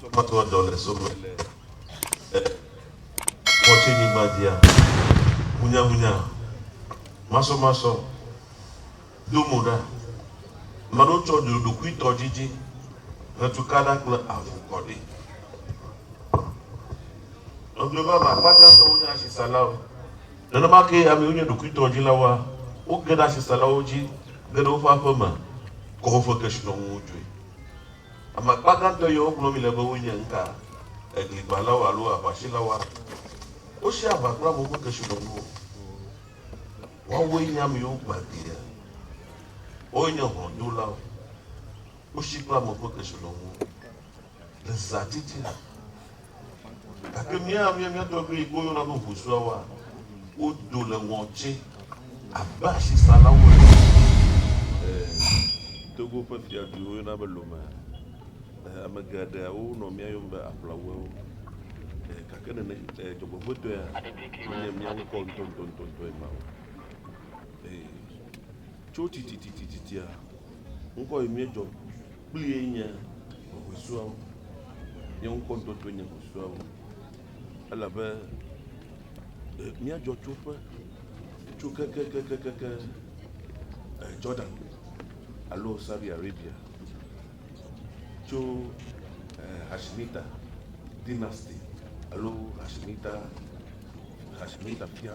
Tsɔmatoa dɔ le sowòme le e ŋɔtsinyigba dzia? Hunyahunya, masɔmasɔ, do mo ɖa. Ame aɖewo tsɔ dzoɖokuitɔ dzidzi, ʋetukaɖa kple avu kɔ ɖi. Egblɔe vavã, akpa gãtɔwo nye asisalawo. Nenema kee amewo nye ɖokuitɔ dzilawoa, woge ɖe asisalawo dzi, ge ɖe woƒe aƒe me, kɔ woƒe kesinɔnuwo dzoe. Ame akpa gãtɔ yiwo wogblɔ mí le be wonye ŋka, egligbãlawo alo aʋasilawo hã. Wosi aʋa kple amewo ƒe kesinɔnuwo. Woawoe nye ame yiwo gbã glia. Woawoe nye hlɔ̃dolawo. Wosi kple amewo ƒe kesinɔnuwo le zãtitina. Gake mía mía mía tɔgbi kpɔ yɔna nu ŋusuawoa, wo do le ŋɔ tsɛ abe asi salawo ene. Ɛɛ, Togo ƒe fiadui wo yɔna be Lomé. Ɛɛ, ame geɖe wo nɔ mía yɔm be Aplaouewo. Ɛɛ, gake nene, ɛɛ, dzɔgbevɔetɔea, me nye mía ŋkɔ ŋutɔ ŋutɔ ŋutɔ ŋutɔe ma o. Ɛɛ, tso titititititia, ŋkɔ yi mía dzɔ. Kplie nye hɔsuawo, nye ŋkɔ ŋutɔ kple nye hɔsuawo, elabe míadzɔ tso ƒe tso kekekekeke Jordan alo Saudi Arabia, tso Hashimita dynasty alo Hashimita Hashimita fia.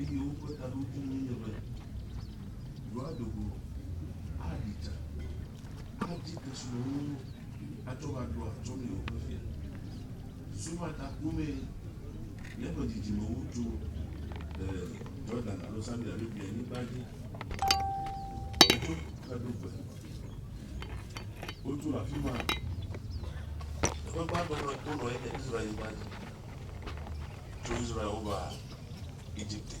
Eye woƒe taɖodzinue nye be yewoado go, aɖi tsa, adi kesinɔnuwo atsɔ va ɖo atsɔ nɛ woƒe fia. Susu ma ta komee míaƒe dzidzimewo tso le Yordan alo Saudi Arabia nyigba dzi. Wotso Kadogbe. Wotso le afi ma. Teƒe gbãtɔ ma wonɔ ye nye Israel nyigba dzi. Tso Israel wova Egipte,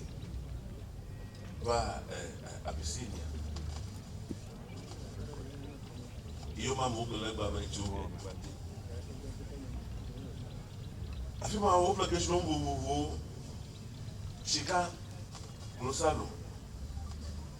va Abisinia. Yewo ma mo kele gba me tso gbati. Afi ma wo ƒe kesinɔ vovovowo, sika, klosalo,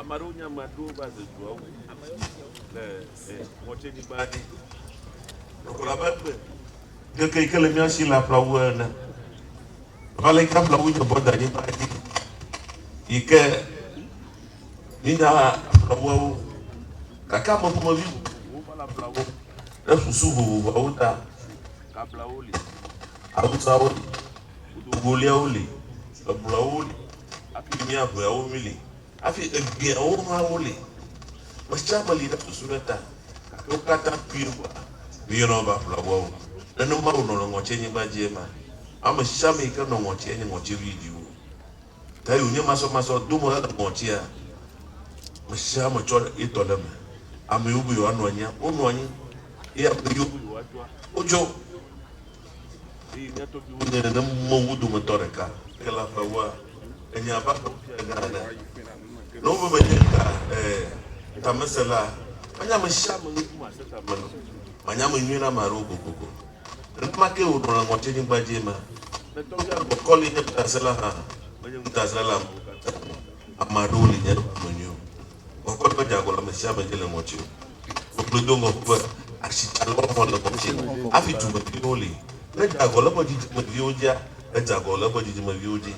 Ame aɖewo nye ame aɖewo va ze dua ŋu le ŋɔtsenyigba dzi. Ɖɔkplɔ abe gbe keke yi ke le mía si le aƒlawu ene. Ava le yi ke aƒlawu nye bɔ da anyigba dzi yi ke mi nya aƒlawuawo gake ame ƒomevi vovovowo va le aƒlawo ɖe susu vovovoawo ta. Kablawo li, awusawo li. Ʋudoŋgoliawo li, eblɔawo li, hafi miaŋeawo mi li, hafi egbɛawo hã woli. Ame sia ame li na susu ɖe ta, gake wo katã kpuie ko la, míeyɔna wo be aƒlaʋuawo. Nenema wònɔ le ŋɔtinyigba dzi ema. Ame sia ame yi ke nɔ ŋɔtia nye ŋɔtiʋui dziwò. Tae wònye masɔmasɔ do mo hele ŋɔtia. Ame sia ame tsɔ ye tɔ ɖe eme. Ame yiwo be yewoanɔ anyia, wonɔ anyi, eye ame yiwo be yewoatsoa, wotso. Eye mía tɔgbiwo nye nenewo wo dometɔ ɖeka. Ke le aƒeawoa, enye abe aƒewo fia gã ene. Ne wome menye ta, ẽ, tamesẽla, manye ame sia ame ŋuti mase ta me o. Manye ame nyui na ame aɖewo kokoko. Nenema kee wònɔ le ŋɔtinyigba dzi ema. Ne tɔgbia le bɔkɔ li nye ŋutasẽla hã, menye ŋutasẽla le amewo katã ŋu. Ame aɖewo li nye ame nyuiwo. Bɔkɔ medzea agɔ le ame sia ame dzi le ŋɔti o. Ŋugbedoŋɔ ƒe asitsalewɔwɔ le ŋɔtie hafi dumeviwo li. Ne edze agɔ le eƒe dzidzimeviwo dzia, edze agɔ le eƒe dzidzimeviwo dzi.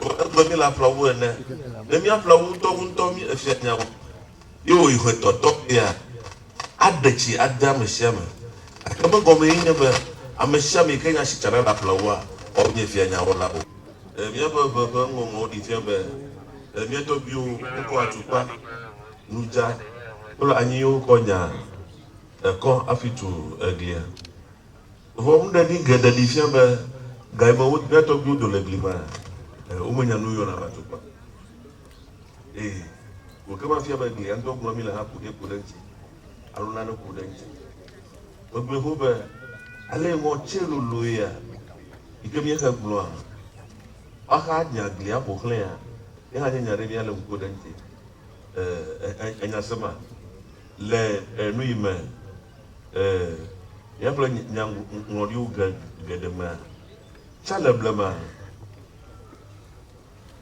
Ɖeko egblɔ mí le aƒla wu ene. Ne míaƒla wu ŋutɔ wu ŋutɔ mí efia nya wu. Ye wòyi ƒe etɔ̃tɔ ɣia, aɖe tsi ade ame sia ame. Gake megɔme ye nye be ame sia ame yi ke nye asitsala le aƒla wua, woawo nye fia nya wɔla o. Míaƒe ʋe ƒe ŋɔŋlɔwo ɖi fia be mía tɔgbiwo kɔ atukpa. Nu dza kple anyi ye wokɔ nya ekɔ hafi tu eglia. Vɔ nuɖeɖi geɖe ɖi fia be ga yi me wo mía tɔgbuiwo do le gli maa, e, womenya nu yɔna va tukpa. E, wò ke mafia be glia ŋutɔ gblɔ mi le haku ɖe ku ɖe ŋuti alo nane ku ɖe ŋuti. Megblɔe xoxo be ale yi ŋɔ tse lolo ya yi ke míexe gblɔa, woaxa nya glia ƒo xlẽa, ye hã nye nya ɖe míale ŋku ɖe ŋuti. e, e, enya se ma, le e, nu yi me e, nya kple nya ŋlɔɖiwo ge, geɖe mea, tsa le blema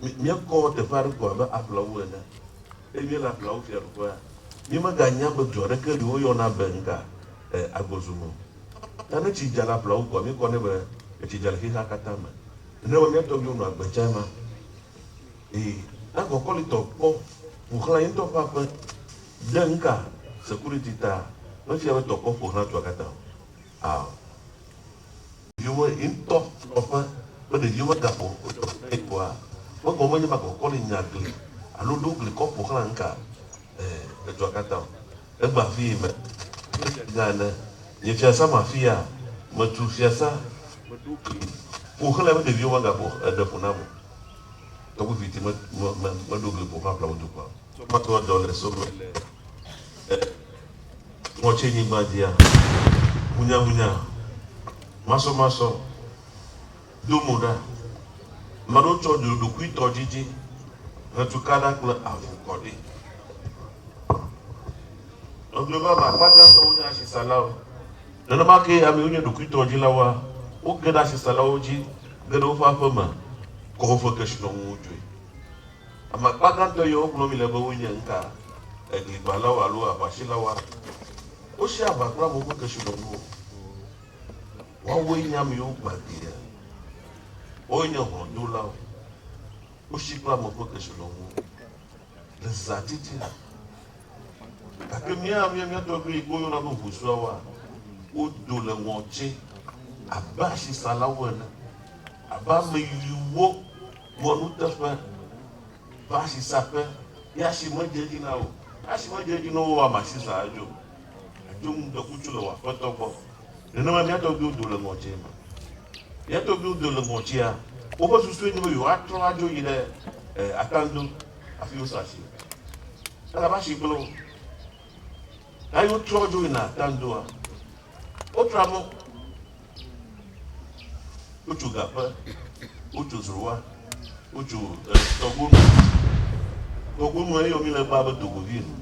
míekɔ teƒe aɖe ko abe aƒlawo ene, eye míele aƒlawo fiaɖuƒea, míemeganya be du aɖeke li woyɔna be ŋka e, agbɔzu me o. Ta ne tsi dza le aƒlawo koa, míekɔ ne be etsi dza le xexea katã me, nenema mía tɔgbiwo nɔ agbe tsae ma. Eye ne kɔkɔlitɔ kpɔ ƒoxlã ye ŋutɔ ƒe aƒe ɖe nuka security ta mefia be tɔkpɔ ƒoxlã dua katã o? Ao. Ɖeviwo ye ŋutɔ nɔ ƒe be ɖeviwo megaƒo ƒoɖeƒe na ye oa? Megɔme menye be akɔkɔli nya gli alo ɖo gli kɔ ƒoxlã nuka ẽ edua katã o. Egbe afii me abe fiagã ene. Nye fiasã ma afia, metu fiasã, meɖo gli ƒoxlãe be ɖeviwo megaƒo eɖe ƒo nam o. Ewu viviti me, me, me, meɖo gli ƒo xlã ƒlawu tukpa. Tsɔ matoa dɔ le so me le e, ŋɔtienyigba dzia, hunyahunya, masɔmasɔ, do mo ɖa. Ame aɖewo tsɔ ɖoɖokuitɔ dzidzi hetu ka ɖa kple avu kɔ ɖi. Nɔviwo vava akpa gãtɔ wonye asisalawo. Nenema kee amewo nye ɖokuitɔdzilawoa, woge ɖe asesalawo dzi, ge ɖe woƒe aƒe me, kɔ woƒe kesinɔnuwo dzoe. Ame akpa gãtɔ yawo gblɔm míele be wonye nuka? Egligbãlawo alo aʋasilawoa? Wosea aʋa kple amewo ƒe kesinɔnuwo. Woawoe nye amewo gbãtɔe. Woawoe nye hlɔ̃dolawo. Wosii kple amewo ƒe kesinɔnuwo. Le zãtitina. Gake mía mía mía tɔgbi yi ke woyɔna be Ʋusuawoa, wodo le ŋɔtsi abe asisalawo ene, abe ame yiwo gbɔ nuteƒe va asisaƒe ye asi medze edzi na wo. Asi medze edzi na wo woa, masisaa edzo. Adzo ŋdɔkutsu le wò aƒetɔ gbɔ. Nenema mía tɔgbuiwo do le ŋɔdzi me. Mía tɔgbuiwo do le ŋɔdzia, woƒe susue nye be yewoatrɔ adzo yi ɖe atando hafi wosa asi. Elabe asi gblẽ wo. Ɣe aɖe wotrɔ dzo yina atandoa, wotra mɔ, wotso gaƒe, wotso zroa, wotso tɔgonu. Tɔgonu eye wòmi le gbaa be dogovi ene.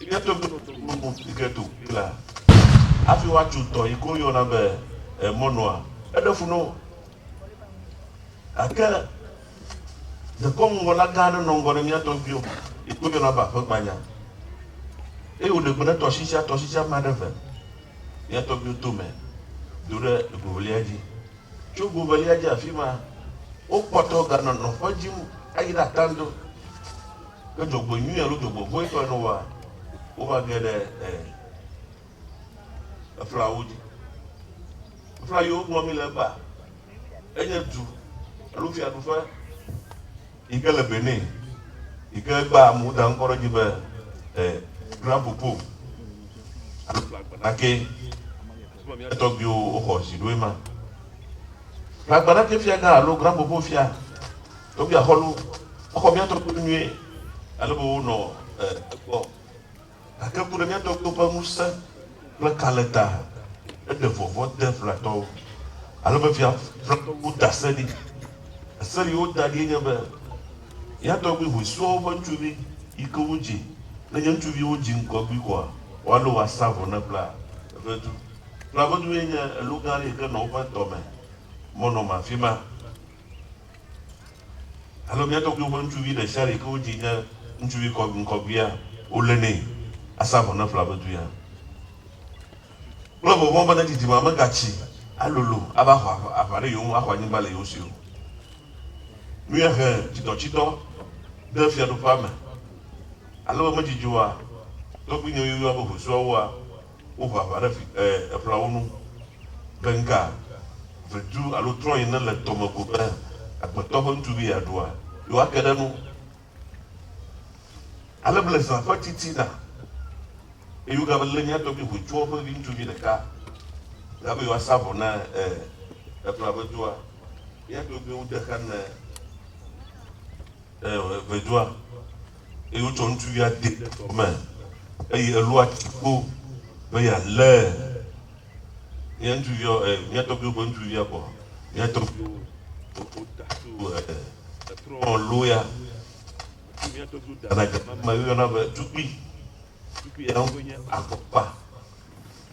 Eya tɔgbi nɔ dɔ glo mɔ fi ke to yi lea, afi wa tso tɔ yi ke wo yɔna be e mɔ nɔa. Eɖe fu nɔ wo. Gake dekɔnu ŋgɔ la gã aɖe nɔ ŋgɔ ne mía tɔgbi wo yi ke wo yɔna be aƒe gbanya. Eye wo ɖe gbe ne tɔshi tsia tɔshi tsia ma ɖe ve mía tɔgbi wo to me do ɖe ego velia dzi. Tso ego velia dzi afima wo kpɔtɔ ga nɔ nɔƒe dzim ayi ɖe atando. Ke dzɔgbe nyui alo dzɔgbe vɔ̃e tɔe ne woa, wova ge ɖe e, eflawo dzi. Efla yi wogblɔ mí le egbea, enye du alo fiaɖuƒe yi ke le Benin yi ke egbea me woda ŋkɔ ɖe edzi be e, Grand Popo alo Gbagbanake. Esime mía tɔgbiwo woxɔ zi ɖo ema. Gbagbanake fiagã alo Grand Popo fia. Ɖo mía xɔlo exɔ mía tɔgbuiwo nyuie ale be wonɔ egbɔ, gake ku ɖe mía tɔgbuiwo ƒe ŋusẽ kple kalẽ ta. Eɖe vɔvɔ̃ de Flatɔwo ale be Fia Flatɔwo da se ɖi. Ese yi woda ɖie nye be, Mía tɔgbui hoe sua woƒe ŋutsuvi yi ke wodzi ne nye ŋutsuvi wodzi ŋgɔgbi koa, woalé wo asa vɔ ne Fla ƒe du. Fla ƒe du ye nye elo gã aɖe yi ke nɔ woƒe dɔ me mɔnɔme afi ma. Alo mía tɔgbuiwo ƒe ŋutsuvi ɖe sia ɖe ke wodzi nye ŋutsuvi ŋkɔgbia, wolénɛ asa vɔ ne ƒlea be duya kple vɔvɔ̃ be ne dzidzime megatsi alolo ava xɔ aʋa ɖe yewo ŋu axɔ anyigba le yewo si o. Nue he tsidɔtsidɔ ɖe fiaɖuƒea me ale be medidi oa? Tɔgbuinyewo yɔa be hosuawoa? Woho aʋa ɖe vi, e, eƒlawo nu be ŋka vedu alo trɔ yi nele tɔ me ko be agbetɔ ƒe ŋutsuvi yeaɖua yewoake ɖe enu. Ale ble zã ƒe titina, eye wogava lé mía tɔgbi Hotsua ƒe viŋutsuvi ɖeka la be yewoasa vɔ na, e, eƒla vedua. Mía tɔgbiwo de xa ne. Eo, eve dzɔa, eye wotsɔ ŋutsuvia dee ɖe tɔ me, eye elua tsi kpo be yealee. Mía ŋutsuviawo, e, mía tɔgbuiwo ƒe ŋutsuvia kpɔ, mía tɔgbuiwo, woda tso, e, etrɔ loo ya. Mía tɔgbuiwo dana dze mama, woyɔna be tukpui. Suku yawo ƒe nye akpɔkpa.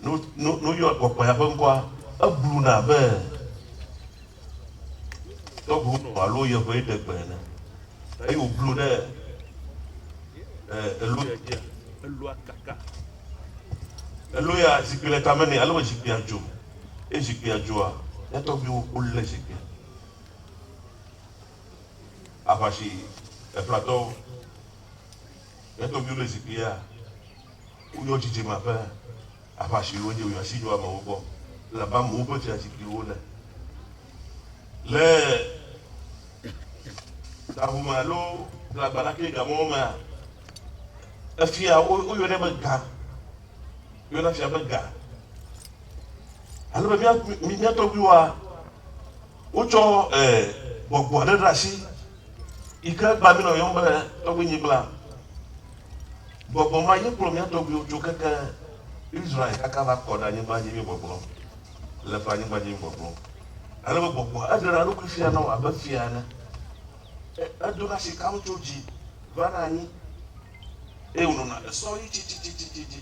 Ne woyɔ akpɔkpa ya ƒe ŋkɔa, ebluna abe tɔʋu nɔ alo yeʋe ɖe gbe ene. Eye wòblu ɖe elo ya dzia, eloa kaka. Elo ya, zikpui le tame nɛ ale be zikpuia dzo. Eye zikpuia dzoa, mía tɔgbuiwo wolé zikpuia. Aʋasi, eflatɔwo, Ye tɔ mio le zikpui ya wo yɔ dzidzeme aƒe aƒa si wo nye wo ya si yɔ amewo gbɔ le abe amewo ƒe fia zikpui wo ne. Le gaŋu me alo le agbalaki ga mɔwo mea, efia wo yɔ ne be ga. Yɔ na fia be ga. Ale be mia, mia tɔgbuiwoa, Wotsɔ gbɔgbɔ aɖe ɖe asi yi ke egbea mí nɔ yɔm be tɔgbuinyigblã. Gbɔgbɔ ma ye kplɔ mía tɔgbuiwo tso keke Israel kaka va kɔ ɖe anyigba dzi mí gbɔgblɔ le ƒe anyigba dzi mí gbɔgblɔ. Ale be gbɔgbɔa eɖea eɖokui fia na wò abe fia ene. Edona sikawo tso dzi vana anyi eye wònɔna esɔɣi tsitsitsitsi dzi.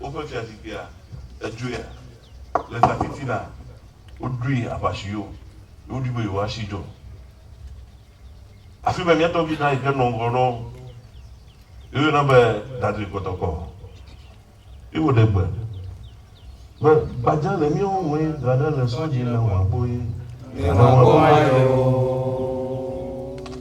Woƒe fiazikpuia, edzoea? Le zãtiti la, woɖoe aʋasiwo, ye wodi be yewoasi dzɔ. Afi ma mía tɔgbi gã yi ke nɔ ŋgɔ nɔ wo, ye woyɔna be Dudley Kɔtɔkɔ, ye wòɖe gbe be, Gbadza le míawo ŋue, gaɖe le sɔ dzi, ne wòaboe, gaɖe wòaboe o.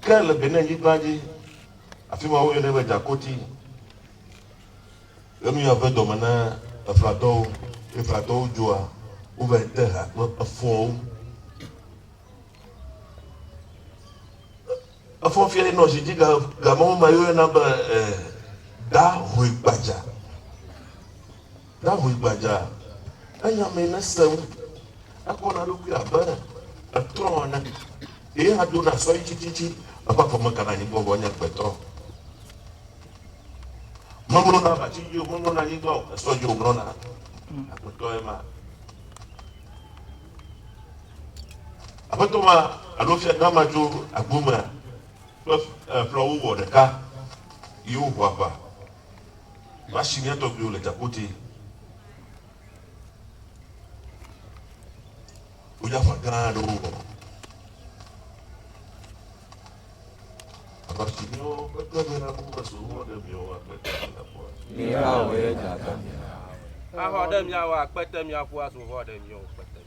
Ke le Benin-nyigba dzi, afi ma woyɔnɛ be Djakoti, le nuya ƒe dɔme na Efratɔwo. Efratɔwo dzoa, wovae te ha kple efɔwo. Efɔ fiae nɔ zi dzi ga, gamewo ma yɔna be eh, Da Hoe Gbadza. David gbadza, enya mee ne sẽŋu, ekpɔ na eɖokui abe etrɔ ene, ye hã do na sɔyi tsitsitsi, eƒe afɔ meka na anyigba o, vɔ enye agbetɔ. Memlɔ na abati dzi o, memlɔ na anyigba o, esɔ dzi wòmlɔ na. Agbetɔ ye ma. Aƒetɔ ma alo fia gã ma tso agbo mea, kple ƒlɔwo wɔ ɖeka, ye woho aʋa. Va si mía tɔgbuiwo le Djapoti, modzakpa gã aɖewo wɔ. Aʋa si míawo ƒe tɔgbuihawo me so wɔ ɖe miawo akpete mia ƒua. Mí hã wòye dza ta mía. Axɔ ɖe mía wɔ akpete mía ƒua so wɔ ɖe miawo kpete.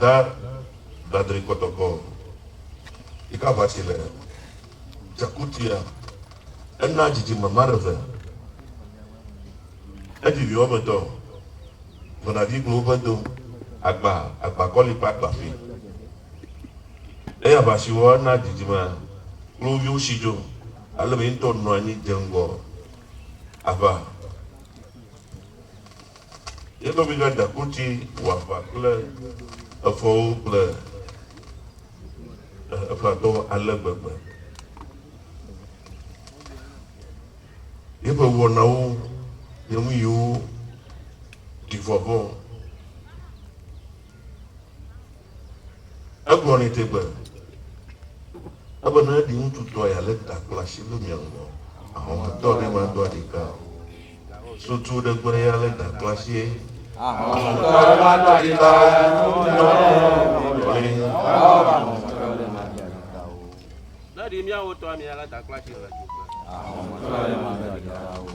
Da dadri kɔtɔkɔ yika vatsi le dzakutuia ena dzidzime mareve evi viwo me dɔ vena vi glo woƒe do agba agba kɔli kpa agba fi eya vatsiwo ena dzidzime klo viwo si dzo ale be yintɔ nɔ anyi dze ŋgɔ ava Ye nɔvigã Dakuti wɔ aʋa kple efɔwo kple Efratɔwo ale gbegbe. Yeƒe wɔnawo nye nuyiwo ɖi vɔvɔ̃. Egblɔ nɛ tegbe ebe ne ɖiŋutsu tɔ ya le ta kple asi ɖo mia ŋgɔ ahɔnwatɔ ɖe ma do aɖi ka o. Sutu ɖe gbe ya le ta kple asi eye. Ahɔnwatɔ ɖe ma do aɖi ka o. Ne ɖi miawo tɔa mia le ta kple asi le tu gbe. Ahɔnwatɔ ɖe ma do aɖi ka o.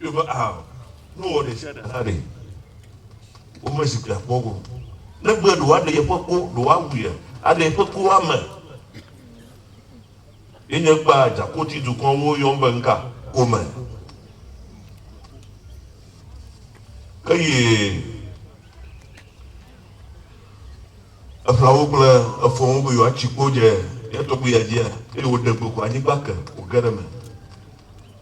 Ɖo be a nu wɔ ɖe sia ɖe hã ɖe, womezu kpea kpɔ o. Ne be ɖe woaɖe yeƒe ko, ɖe woawui ya, aɖe yeƒe ko ame. Ye nye kpa dzakoti dukɔwo yɔm be ŋka kome. Eye eƒlawo kple efɔwo be yewoatsi kpo dze ya tɔgbuia dzia, eye wòɖe gbe ko anyigba ke wòge ɖe eme.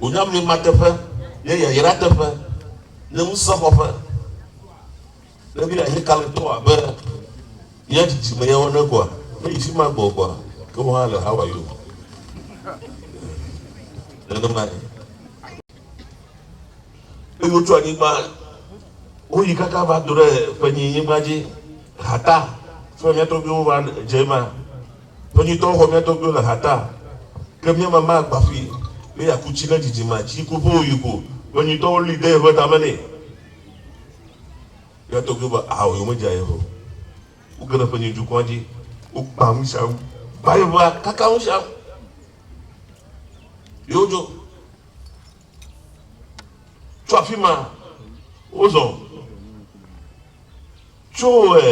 Wònya mlɔemateƒe nye yayrateƒe, nye ŋusẽxɔƒe. Ne mía he kalẽtɔ abe mía dzidzime yawo ene koa, meyi fi ma gbɔgbɔa, ke wò hã le Hawaii o. Nenemae. Eye wotso anyigba, woyi kaka va do ɖe ƒenyinyigba dzi, hata, fi ma mía tɔgbuiwo va dze ema. Nɔnyitɔwo xɔ mía tɔgbuiwo le ha ta, ke mía mama gba ƒui be yeaku tsi ne dzidzimea tsi ku ƒe wòyi ko. Nɔnyitɔwo li de yeƒe tame nɛ. Mía tɔgbuiwo be ao ye womedze aye o. Woge ɖe ƒenyi dukɔa dzi, wogbã ŋusẽa ŋu, gba yeƒea, kaka ŋusẽa ŋu, ye wodzo. Tso afi ma, wozɔ tso ɛ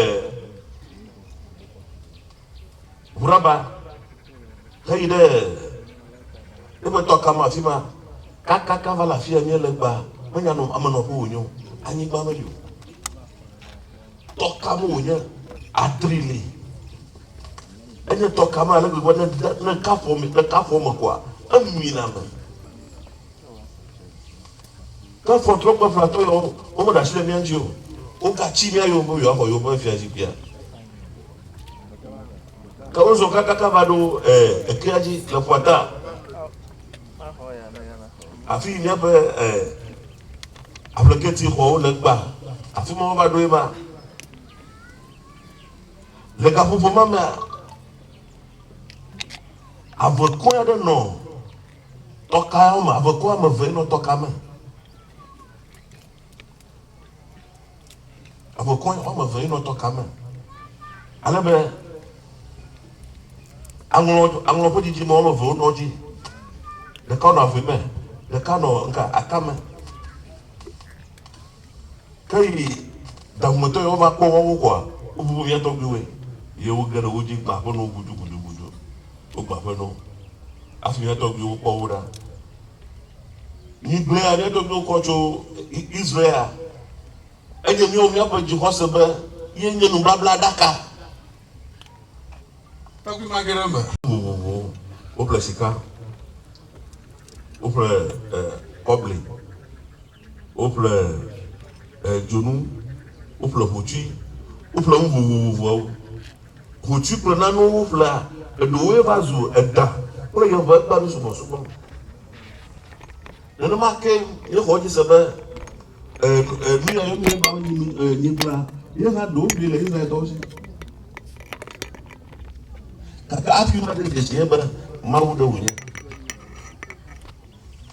Ʋuraba heyi ɖe eƒe tɔka ma afi ma kakaka va le afi ya míele gbaa. Menya nɔ amenɔƒe wònyo, anyigba meli o. Tɔ ka me wònye? Atri li. Enye tɔ ka me ale gbegbe ne ne kafuɔ me ne kafuɔ me koa emina me. Kafuɔ trɔ kple flatɔ yawo wome ɖe asi le mía ŋuti o. Wogatsi mía yome be yewoaxɔ yewo ƒe fiazikpuia. Ke wozɔ kakaka va ɖo eh, ekea dzi le ƒuata. Afii míaƒe aƒleketi xɔwo le gbã, afi ma wova ɖo ye ma. Le gaƒoƒo ma mea, avekɔe aɖe nɔ tɔka me, avekɔe ame eve nɔ tɔka me. Eƒe kɔe woame eve ye nɔ tɔ ka me. Ale be aŋlɔ aŋlɔ ƒe didi me woame eve wonɔ dzi. Ɖeka nɔ ave me, ɖeka nɔ nka atame. Ke yi dahumetɔ yi wova kpɔ woawo koa, wobu be mía tɔgbuiwoe. Ye woge ɖe wo dzi gba aƒe na wo gudugudugudu. Wogba aƒe na wo. Hafi mía tɔgbuiwo kpɔ wo ɖa, Migblɔe aɖe ɖo míekɔ tso Israel. Enye míawo míaƒe dzixɔse be ye nye nubablaɖaka. Takpui ma ge ɖe eme. Vovovowo. Woƒle sika. Woƒle eh, kɔbli. Woƒle e dzonu, woƒle hotsui, woƒle nu vovovoawo. Hotsui kple nanewo woƒlea, eɖewoe va zu eɖa kple yɔvegbaɖu subɔsubɔ. Nenema ke nye xɔ dzi se be e e nu yae nye Mawu nyi mi e nyigblea ye hã ɖewo ɖui le Israeltɔwo si. Gake afi ma ɖe dzesi ye be Mawu ɖe wònye.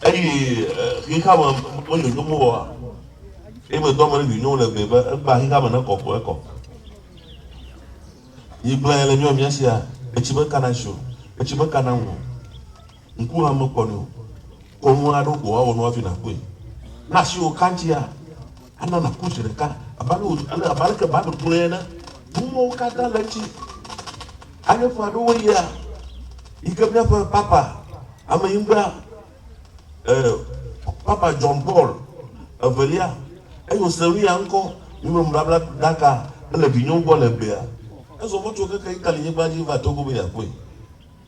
Eyi xexea me medzodzom o oa? Ye medo ame ɖe vinyewo le gbee be ekpea xexea me ne kɔ ko ekɔ. Yi gblɔ ya le mía mía sia, etsi me kana si o, etsi me kana ŋu o, ŋku hã mekpɔnɛ o. Kɔ nu aɖewo ko woawɔ nu hafi nàkpɔe. Ne asiwò ka ŋutia? Ana nàku zi ɖeka, abe ale wòdzi ale abe aleke Bible gblɔe ene. Numɔ̃wo katã le edzi. Ale ƒe aɖewo yia yi ke míaƒe Papa Amenyigba, eh, Papa John Paul Evelia, eye wòse nuya ŋkɔ Numemebablaɖaka hele vinyewo gbɔ le egbea. Ezɔ mɔ tso keke Italy-nyigba dzi va Togo be yeakpɔe.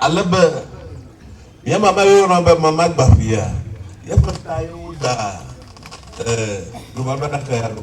Ale be mía mama yɔna be mama gbaƒia, yeƒe ta ye wodaa eh, nubablaɖaka ya ɖo.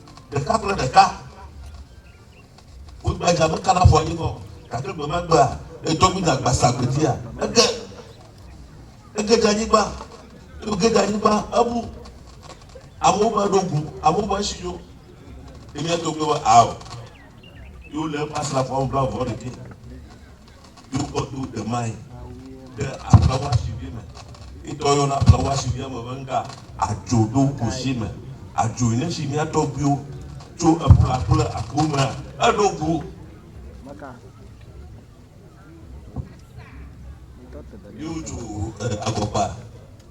ɖeka kple ɖeka. Wo gbadza me kana fɔ anyi kɔ. Gake gbe ma gbea, edɔ mi na gbasa gbedia. Ege, ege ɖe anyigba, ege ɖe anyigba, ebu. Amewo va ɖo gu, amewo va si yo. Ɖevia to gbe va, ao. Yo le eƒe asrafoawo va vɔ ɖe ke. dukɔ do de mai ɖe aƒe wasivi me itɔ yɔna aƒe wasivi ame be ŋga adzo do kusi me adzo yi nesi mia tɔgbiwo tso eƒla kple aku me eɖo gu yóò tso agɔgba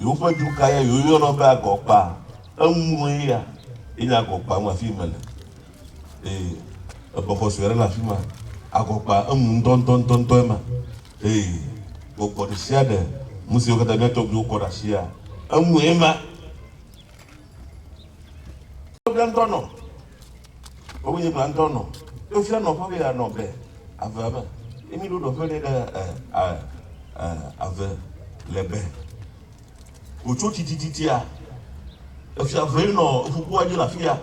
Yewoƒe du kae ya yeyɔna be agɔkpa? Eŋue ya enye agɔkpa ŋu afii mele. Ee, ebexɔ sue aɖe le afi ma. Agɔkpa eŋu ŋdɔndɔndɔndɔe ma. Ee, gbɔgbɔ ɖe sia ɖe, nu siwo katã mía tɔgbuiwo kɔ ɖe asia, eŋue ma. Woɖe ŋdɔ nɔ. Ewɔ nye gbãtɔ nɔ tofia nɔ ƒe be anɔ be avea me. Emi ɖo ɖɔ ƒe ɖe ɖe ɛ a ɛ ave le be. Wòtso titititia efia vee nɔ eƒukua dzi le afia.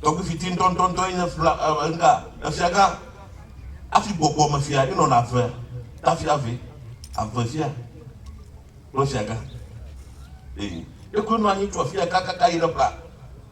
Tɔgbi fiti ŋutɔŋutɔŋutɔ enye fla ɛ ɛ ŋga efia gã. Afi gbɔgbɔ me fia enɔ na ave ta fia ve ave fia kple fia gã. Eye ekue nɔ anyi tso afia kakaka yi ɖe bla.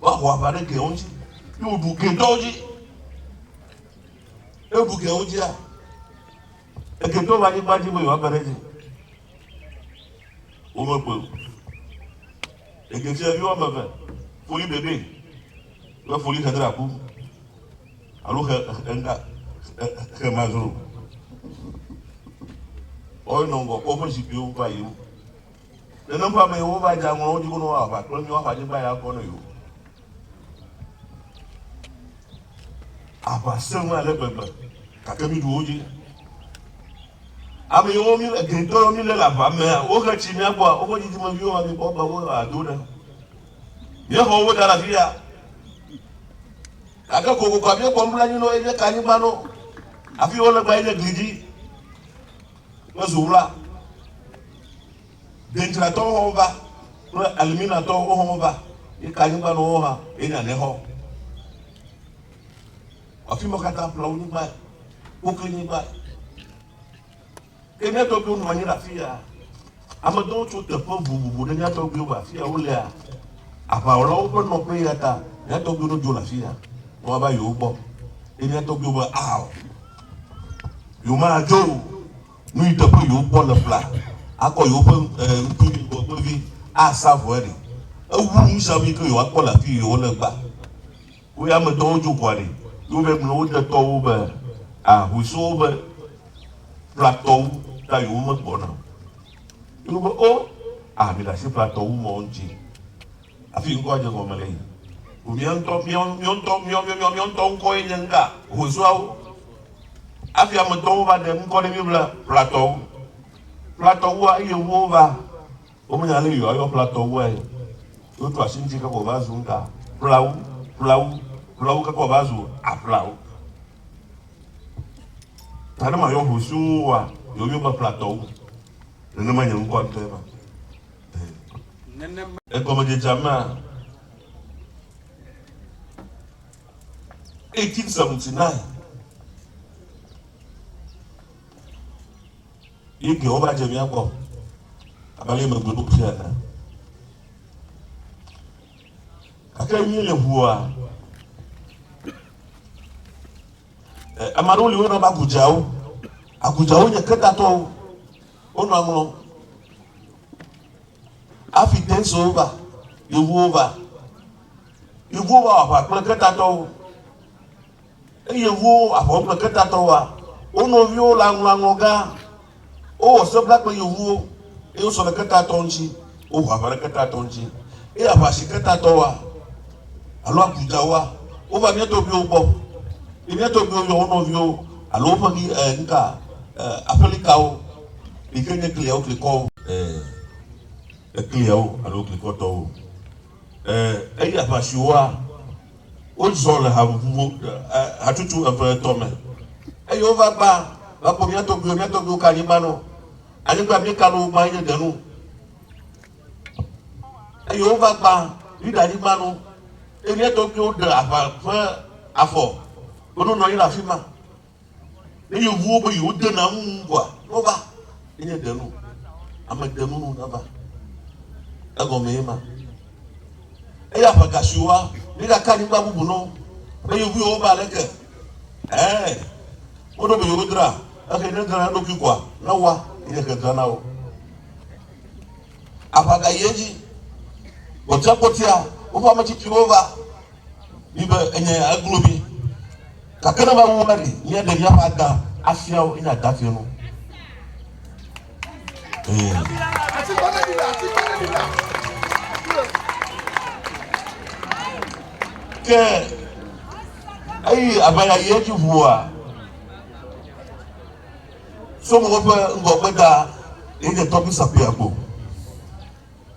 Woaho aʋa ɖe Gedor ŋuti, ye wòɖu Gedor dzi. Ne woɖu Gedor ŋutia, Gedor ƒe anyigba dzi me yewoakpe ɖe edzi. Womekpɔe o. Eke sia vi woame eve, foli bebe kple foli xedraku alo xe ŋga xe mazro. Woawo nɔ ŋgɔ kpɔ woƒe zikpuiwo va yiyim. Le nɔƒea me Yehowa dze aŋlɔ wo dzi gɔnɔ woaʋa kple mí woaƒe anyigba ya gbɔ ne yewo. Aʋa sẽ ŋu ale gbegbe gake mí ɖu wo dzi. Ame yiwo mí egɛtɔ yiwo mí le le aʋa mea wohe tsi mía gbɔa woƒe dzidzimeviwo ma mí kpɔ be wo ado ɖe. Míexɔ wo da ɖe afi ya. Gake kokokoa míekpɔ nublanui na wo eye míeka anyigba na wo. Afi wo le gba enye gli dzi. Mezu wla. Deŋtratɔwo hã wova kple Aliminatɔwo wohã wova ye ka anyigba nɔ wohã ye nya ne hɔ. Afima katã ƒle wonyigba ye wokli nyigba ye. Ke mía tɔgbiwo nɔ anyi ɖe afia. Ame aɖewo tso teƒe vovovo ɖe mía tɔgbuiwo va afi ya. Wolea aʋawɔlawo ƒe nɔƒe eya ta mía tɔgbuiwo ɖo dzo le afi ya ne woava yewo gbɔ. Eye mía tɔgbuiwo be, Ao, yewomadzo o. Nu yi teƒe yewo kpɔ le ƒlea akɔ yewoƒe ŋutsuvi ŋgɔgbevi asa vɔe ɖi. Ewu nu sia nu yi ke yewoakpɔ le afi yi wole gbea. Wo ya me tɔwo djo ʋua ɖi yo be mlɔ wo de tɔwo be a hui so wo be ƒla tɔwu ta yo wo me gbɔ na o yo be o a mi ɖasi ƒla tɔwu mɔ ŋtsi afi ŋkɔ dje gɔme le yi o mia ŋtɔ mia mia ŋtɔ mia mia mia mia ŋtɔ ŋkɔ ye nye ŋka hui so awo afi ame tɔwo va ɖe ŋkɔ ɖe mi be ƒla tɔwu ƒla tɔwua eye wo va Womenya ale yewoa yɔ ƒlatɔ wuae o. Wotu asi ŋuti keke wòva zu nuka? Ƒlawu, ƒlawu, ƒlawu keke wòva zu aƒlawu. Ta ne mayɔ ŋu siwo ŋuwòa yewo yɔ be ƒlatɔ wu? Nenema nye ŋkɔa ŋutɔe ma. Nenema. Le gɔmedzedzea mea, 1879, Ye ke wova dze mía gbɔ abe ale megblɔ nu ƒe ene. Gake mí le ŋua? Ame aɖewo li wona be agudzawo. Agudzawo nye kedatɔwo. Wonɔ aŋlɔ. Afi tensowo va, yevuwo va. Yevuwo va wɔ aʋa kple kedatɔwo. Eye wo, ahɔ̃gble ketatɔwoa, wo nɔviwo le aŋlɔ aŋlɔ gã, wowɔ seblakpe yewuwo, eye wosɔ ɖe ketatɔ ŋuti, woho aʋa ɖe ketatɔ ŋuti, eye aʋa si ketatɔwoa, alo agudawoa, wova mía tɔgbuiwo gbɔ, eye mía tɔgbuiwo yɔ wo nɔviwo, alo woƒe ɣi, e, nuka, e, aƒelikawo, yi ke nye kliawo klikɔwo, e, ekliawo alo klikɔtɔwo, e, eye aʋa siwoa. Wozɔ le haʋuʋu hatsotso eve etɔ̃ me, eye wova gbã va kpɔ mía tɔgbuiwo. Mía tɔgbuiwo ka anyigba nɔ anyigba míeka nɔ wo gbã nye denu, eye wova gbã ɖi ɖe anyigba nu, eye mía tɔgbuiwo ɖe aʋa ƒe afɔ, wonɔ nɔ anyi ɖe afima. Ne yevuwo be yewodena ŋu ŋu koa, wova. Enye denu. Ame denu nu neva. Egɔme ye ma. Eye aƒeka si woa, míegaka anyigba bubu nɔ be yevuwo wobe aleke. Ɛɛ, woɖo be yewodra. Ehe ne drana eɖokui koa, ne woa, enye ke drana wo. Aƒeka yi edzi. Gbɔtiagbɔtia, woƒe ametsitsiwo va. mi be enye ya eglo mi. Gake ne va wu va ɖi, míaɖe míaƒe ada afia wo, enye ada fienu. Ke eyi aʋaya yi edzi ʋua, sɔmɔwo ƒe ŋgɔgbeda yi dze tɔgbi sakpui agbo.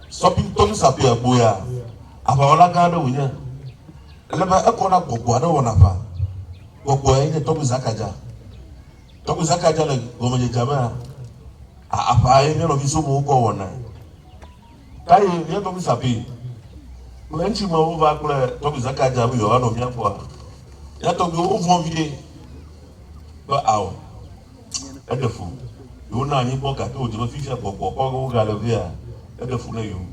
Sɔbim tɔm sapɛ agboea, aʋawɔla gã aɖe wònye. Ele be ekɔ na gbɔgbɔ aɖe wɔna aʋa. Gbɔgbɔ yae nye Tɔgbi Zakaja. Tɔgbi Zakaja le gɔmedzedzea mea, aʋa ye mía nɔvi somowo kɔ wɔnae. Kaye mía tɔgbi sapɛ kple eŋtsimewo va kple Tɔgbi Zakaja be yewoanɔ mía gbɔa? Mía tɔgbiwo vɔ̃ vie be ao. Eɖe fu be wona anyi kpɔ gake wòdze be fifia gbɔgbɔ kɔge wogale vea, eɖe fu na yewo.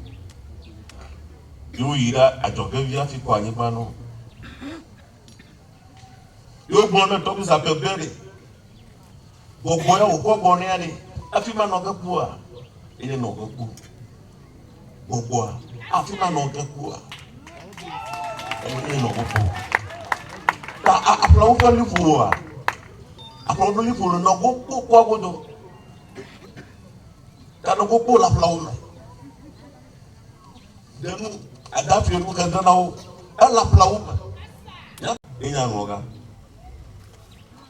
Ye woyi ɖe adzɔge vi hafi kɔ anyigba na wo. Ye wogblɔ ne Tommy Zappel be ɖe gbɔgbɔ ya wòkɔ gbɔ nɛa ɖe, afi ma nɔ ge kpua? Ye nenɔ ge kpɔ. gbɔgbɔa afi ma nɔ ge kua enɔ gbɔgbɔ ta aƒlawo ƒe liƒoa aƒlawo ƒe liƒo le nɔ gbogbo kua godo ta nɔ gbogbo le aƒlawo me denu adafi enu ke denawo ele aƒlawo me enya nɔ ga.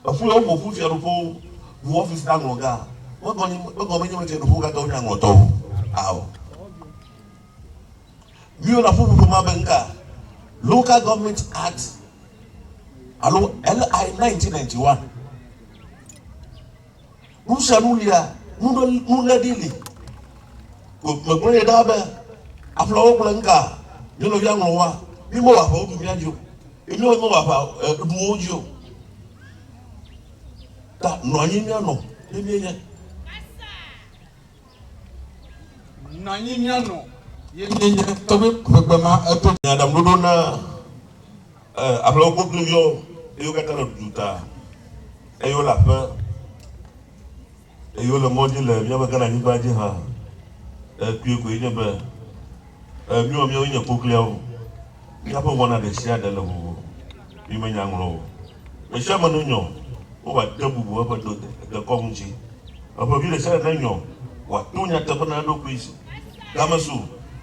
Eƒu ye woƒo ƒu Fiaɖuƒe ŋu ɔfisi na ŋlɔ gã. Megɔme nye be fiaɖuƒewo katã wonye aŋlɔtɔwo ao. Míewɔna ƒuƒoƒo ma be nuka? Local Government Act alo LI 1991. Nu sia nu lia, nuléɖi li. Megblɔ nɛ ɖaa be, Aƒleawo gblɔ nuka? Mía nɔvia ŋlɔ woa? Mímewɔ aʋa woɖu mía dzi o. Ye míawo míewɔ aʋa ɖu wo dzi o. Ta nɔ anyi míanɔ ne míenye. Nɔ anyi míanɔ ye míenye. Tɔgbe ƒe gbe ma eto. Nyaɖaŋuɖoɖo na E, aƒlewo kple wo kluviwo, eye wo katã le ɖuɖu ta, eye wole aƒe, eye wole mɔ dzi le míaƒe Ghana nyigba dzi hã. E, kpuie koe nye be, e, míwɔ míawoe nye kokliawo. Míaƒe wɔna ɖe sia ɖe le vovo. Mi me nya ŋlɔ o. Me sia me ne nyɔ, wova de bubu eƒe do de, dekɔ ŋuti. Eƒe vi ɖe sia ɖe ne nyɔ, wòato nyateƒe na eɖokui si, game su,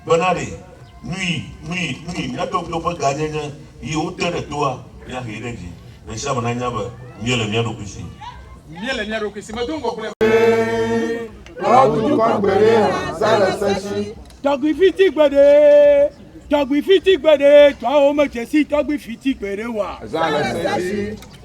bena ɖe. Nui, nui, nui mía ɖokuiwo ƒe gãnyenye yi wote ɖe toa, míahee ɖe dzi. Ame sia ame nanya be míele mía ɖokui si. Míele mía ɖokui si me dom go gblẽ. Kplɔ wu dukɔ gbeɖe hã zã le se shi. Tɔgbi fiti gbeɖe Tɔgbi fiti gbeɖe Tɔawo me dze si tɔgbi fiti gbeɖe wa. Zã le se shi.